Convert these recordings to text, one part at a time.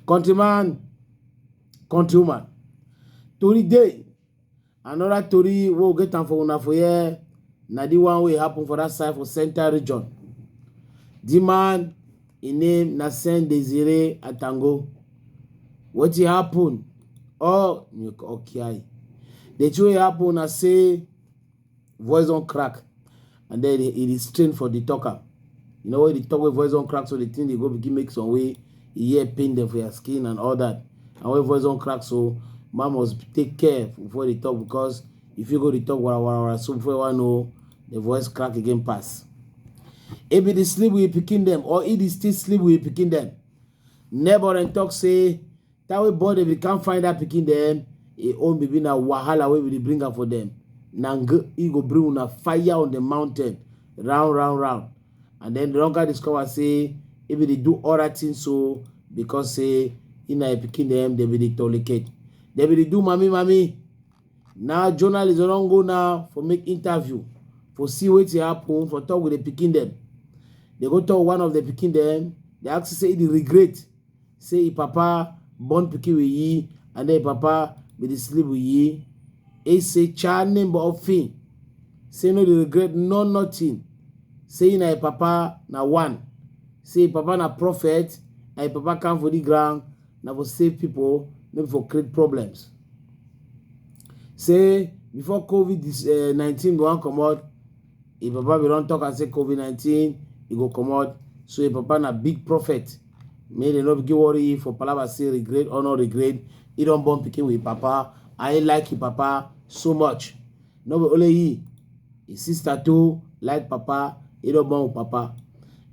Countryman, countrywoman, tori dey another tori wey we get am for una for here na the one wey happen for that side for central region. The man im name na Sen Desire Atango. Wetin happen? All Okiayi. The thing wey happen na say voice don crack and then e dey strain for the talker you know when the talk wey voice don crack so the thing dey go begin make some way e hear pain dem for your skin and all that and when voice don crack so man must take care before the talk because if you go the talk wara wara wara so before you wan know the voice crack again pass e be the sleep with pikin dem or e dey still sleep with pikin dem neighbor dem talk say Time wey born dem if you can't find that pikin dem e own baby na wahala wey we dey bring am for dem na ng e go bring una fire on the mountain round round round and then the longer discover say e be dey do other things so because say e na your pikin dem dem be dey tolerate dem be dey do mami mami now journalists don go now for make interview for see wetin happen for talk with the pikin dem dey go talk one of the pikin dem dey ask say e dey regret say im papa born pikin with yi and then im papa bin dey sleep with yi. E say cha nimba ofin say no dey regret no nothing say na im papa na one say im papa na prophet and im papa come for the ground na for save people no be for create problems. Say before COVID-19 go wan comot Im papa bin don talk am say covid nineteen e go comot so im papa na big prophet make dem no begin worry you for palava say regret or no regret he don born pikin with papa and he like him papa so much no be only he his sister too like papa he don born with papa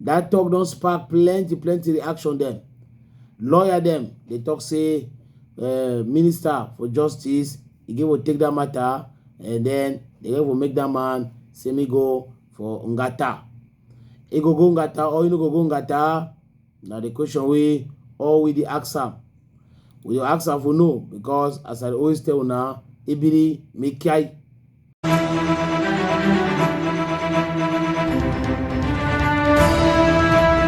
that talk don spark plenty plenty reaction dem lawyer dem dey talk say uh, minister for justice He gave will take that matter and then the guy will make that man say me go for Ngata. He go go Ngata or you no go go Ngata. Now the question we all we the ask am. We the ask am for no because as I always tell now, Ibiri me kai.